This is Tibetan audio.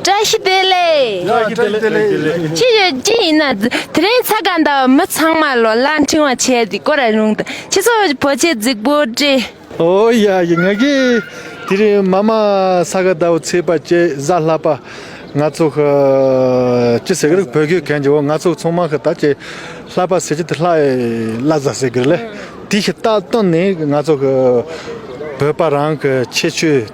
བཀྲ་ཤིས་བདེ་ལེགས། ཅི་ཡོད་ཅི་ཡིན་ན་དེ་རིང་ཚ་དགའ་ཟླ་བ་མི་ཚང་མ་ལོ་ལ་འཕྲེང་བ་བྱས་ཏེ་བསྐོར་ར་རུང་དང་ཁྱེད་ཚོ་བོད་ཆས་རྫིག་པོ་སྤྲས། ཨོ་ཡ་ཡི་ང་གི་དེ་རིང་མ་མ་ཚ་དགའ་ཟླ་བ་ཚེས་པ་བཅས་གཟའ་ལྷག་པ་ང་ཚོ་ཧི་ཅི་ཟེར་གི་རེད་བོད་གོས་གན་རྒྱོ་ང་ཚོ་ཚོང་མ་ཧི་ད་ཅེ་ལྷག་པ་ཟེར་གྱི་དེ་ལྷག་ལྷ་ཟ་ཟེར་གི་རེད་དེ་ཧི་ད་སྟོན་ནས་ང་ཚོ་ཧི་བོད་པ་རང་གི་ཁྱད་ཆོས།